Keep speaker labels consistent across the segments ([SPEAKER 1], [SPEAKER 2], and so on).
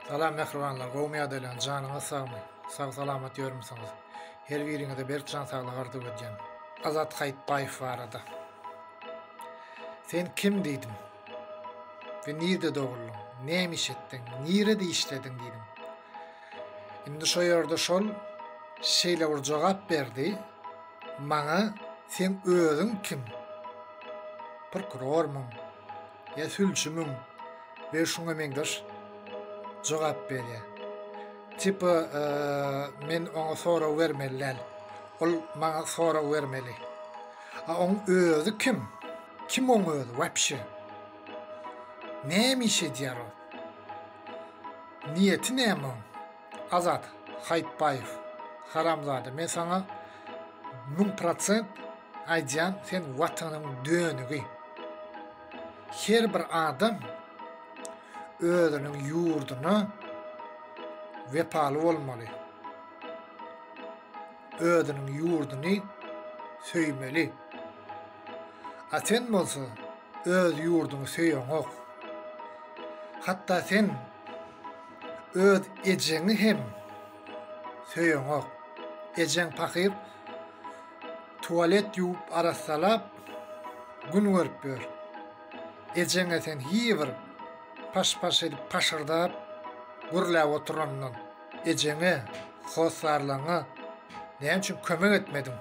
[SPEAKER 1] Salam mähribanlar gowmy ýadaýlaň janyňyz sagmy sag salamat ýörmüsiňiz her biriňize berk jan saglyk arzuw edýän Azat Haýytbaýew barada sen kim diýdim we nirde doguldyň näme iş etdiň nirede işlediň diýdim indi şo ýerde şol şeýle bir jogap berdi maňa sen özüň kim prokurormyň ýa sülçümiň we şuňa meňzeş jogap berýär. Tipa e, men oňa sorag bermeli däl. Ol maňa sorag bermeli. A oň özi kim? Kim oň özi? Wapşe. Näme iş edýär ol? Niýeti näme oň? Azat Haýytbaýew haramzada men saňa müň prosent aýdýan sen watanyň dönügi her bir adam özüniň ýurduna wepaly bolmaly özüniň ýurduny söýmeli a sen bolsa öz ýurduňy söýeňok hatda sen Öz ejeňi hem söýeňok. Ejeň pakyr tualet ýuwup arassalap gün görüp ýör. Ejeňe sen hiý bir paş-paş edip paşyrdap gürläp oturandan ejeňe, hossarlaryňa näme üçin kömek etmediň?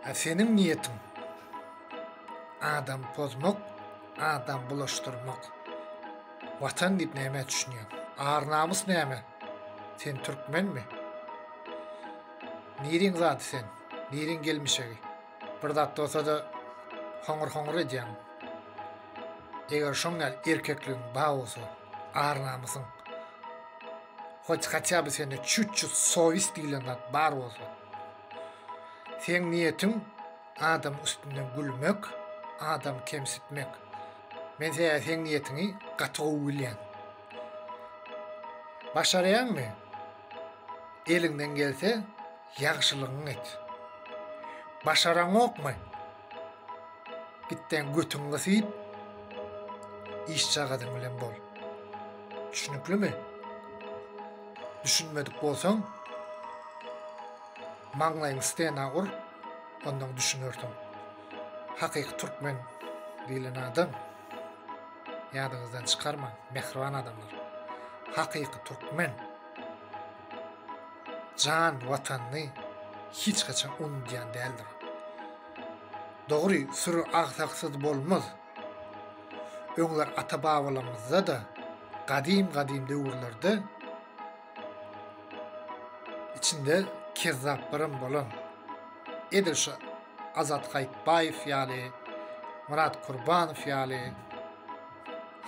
[SPEAKER 1] A seniň niýetiň adam pozmak, Adam bulaşdyrmak. Watan diýip nämä düşünýäň? Ar namys näme? Sen türkmenmi? Niriň zady sen? Niriň gelmişegi? Bir zat bolsa-da hoňur-hoňur edýäň. Eger şoň ýaly erkekligiň bar bolsa, ar namysyň. Hoç hatýa bir sende çüt-çüt sowis diýlen zat bar bolsa. Seň niýetiň Adam üstünden gülmek, adam kemsitmek. Men seä seň niýetiňi gaty gowy bilýän. Başarýaňmy? Eliňden gelse, ýagşylygyňy et. Başaraňokmy? Gitden götüňi gysyp, işjagazyň bilen bol. Düşüniklimi? Düşünmedik bolsaň, Maňlaýyň stena ur, ondan düşünersiň. Hakyky türkmen diýlen adam, ýadyňyzdan çykarmaň, mähriban adamlar. Hakyky türkmen jan watanyny hiç haçan unudýan däldir. Dogry, süri agsaksyz bolmaz. Öňler ata-babalarymyzda-da, gadym-gadym döwürlerde içinde kezzaplarym bolan edil şu Azat Haýytbaýew ýaly, Myrat Kurbanow ýaly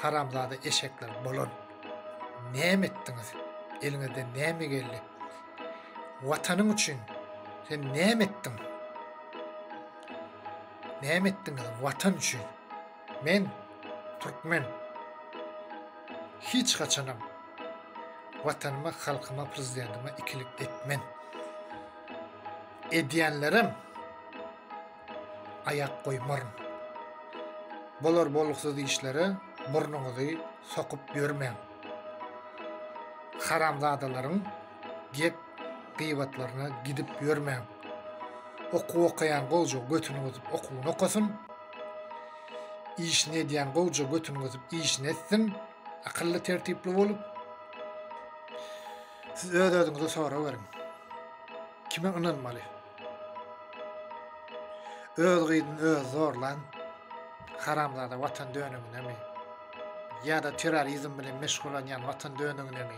[SPEAKER 1] haramzada eşekler bolan. Näme etdiňiz? Eliňizden näme geldi? Watanyň üçin sen näme etdiň? Näme etdiňiz watan üçin? Men Türkmen. Hiç haçanam Watanyma, halkyma, prezidentime ikilik etmen. Edýänlerem aýak goýmaryn. Bolar bolgusuz işlere burnuňyzy sokup ýörmäň. Haramzadalaryň Gep gybatlaryna gidip ýörmäň. Okuw okaýan gowja götüni gysyp okuwyny okasyn. Işini edýän gowja götüni gysyp işini etsin. Akylly tertipli bolup. Siz öz özüňize sorag beriň. Kime ynanmaly? Öz gyzyny öz zorlan haramzada watan dönügine mi? Ýa-da terrorizm bilen meşgullanýan watan dönügine mi?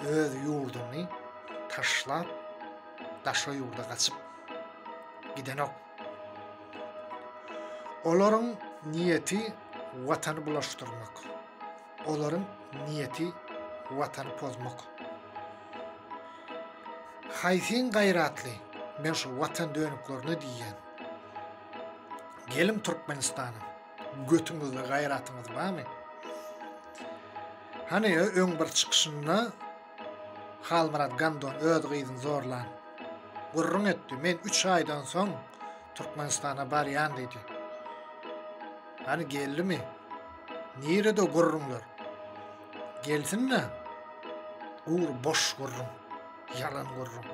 [SPEAKER 1] öz ýurduny taşlap daşa ýurda gaçyp gidenok. Olaryň niýeti watany bulaşdyrmak. Olaryň niýeti watany pozmak. Haýsyn gaýratly men şu watan dönüklerine diýýän. Gelin Türkmenistana. Götüňizde gaýratyňyz barmy? Hany öň bir çykyşynda Halmyrat Gandon öz gyzyny zorlan. Gürrüň etdi, men 3 aýdan soň Türkmenistana barýan diýdi. Hany geldimi? Nirede gürrüňler? Gelsin-de. Ur boş gürrüň. Ýalan gürrüň.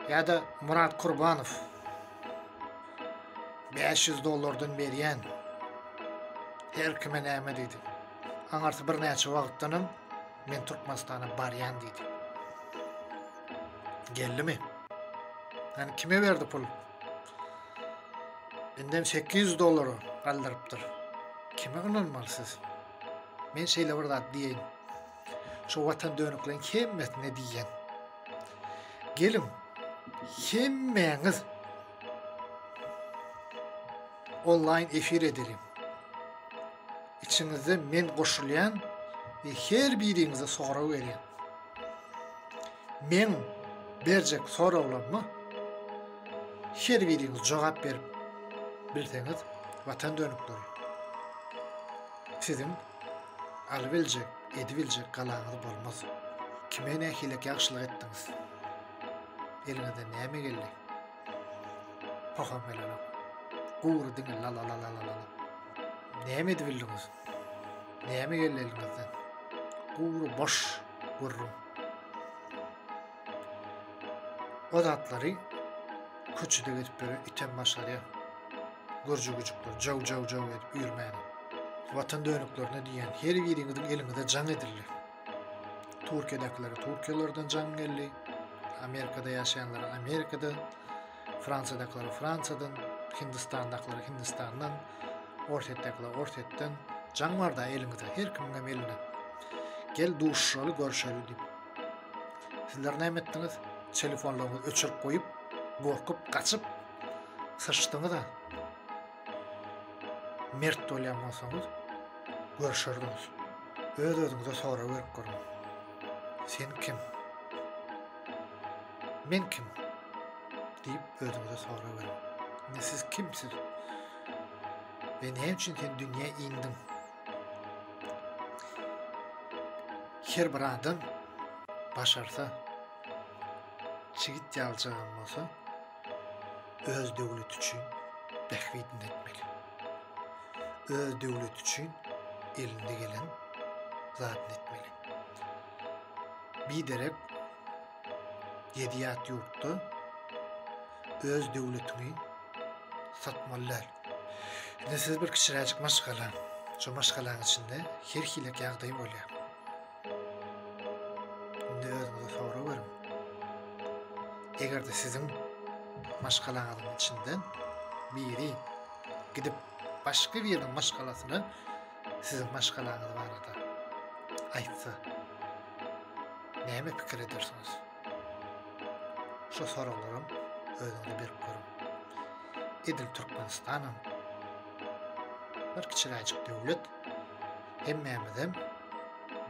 [SPEAKER 1] Ýa-da Murat Kurbanow. Bäş ýüz dollardan berýän. Her kime näme diýdi. Aňarsy birnäçe wagtdanam men Türkmenistana barýan diýdi. Geldimi? Yani kime berdi pul? Benden 800 dolara galdyrypdyr. Kime ynanmaly siz? Men şeýle bir zat diýeýin. Şu watan dönükleň hemmesine diýýän. Geliň, hemmäňiz onlaýn efir edeliň. Içiňizde men goşulýan we her biriňize sorag berýän. Men berjek soraglaryma her biriňiz jogap berip bilseňiz watan dönükleri. Sizin Alybiljek, edibiljek galaňyz bolmaz. Kime nähilek ýagşylyk etdiňiz? Eliňizden näme geldi? Poham gelenok. Gury diňe la la la la la la. Näme edibildiňiz? Näme geldi eliňizden? Gury boş gurrun. O zatlary köçede gezip ýören item başarýar. Görje güjükler jaw jaw jaw edip ýörmäni. Watan dönüklerine diýen her biriňiziň eliňize jaň edildi. Türkiýedäkilere Türkiýelerden jaň geldi. Amerikada ýaşaýanlara Amerikada, Fransiýadakilere Fransiýadan, Hindistandakiler Hindistandan, Orsetdakiler Orsetden jaň barda eliňizde her kimiň hem elinde. Gel duşuşaly, görşeli diýip. Sizler näme etdiňiz? Telefonlaryňyzy öçürip goýup, gorkup, gaçyp syçdyňyz-a. Mert bolýan bolsaňyz, görüşerdiňiz. Öz-özüňize sorag berip görüň. Sen kim? Men kim? diýip özüňize sorag beriň. Indi siz kimsiz? Ve näme üçin sen dünýä indiň? Her bir adam başarsa, çigit ýaljagan bolsa, öz döwleti üçin bähbidini etmek. Öz döwleti üçin elinde gelen zadyny etmeli. Biderek ýedi ýat ýurtda öz döwletini satmaly däl. Indi siz bir kiçiräjik maşgala. Şu maşgalaň içinde her hilek ýagdaý bolýar. Indi özüňize sorag beriň. Eger-de siziň maşgalaňyzyň içinden biri gidip başga biriniň maşgalasyna siziň maşgalaňyz barada aýtsa, näme pikir edersiňiz? Şu soraglaram özüňize berip görüň. Edil Türkmenistanam bir kiçiräjik döwlet. Hemmämizem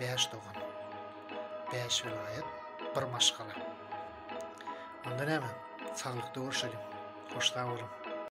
[SPEAKER 1] bäş dogan. Bäş welaýat, bir maşgala. Onda näme? Saglyk döwürşelim. Hoş sag boluň.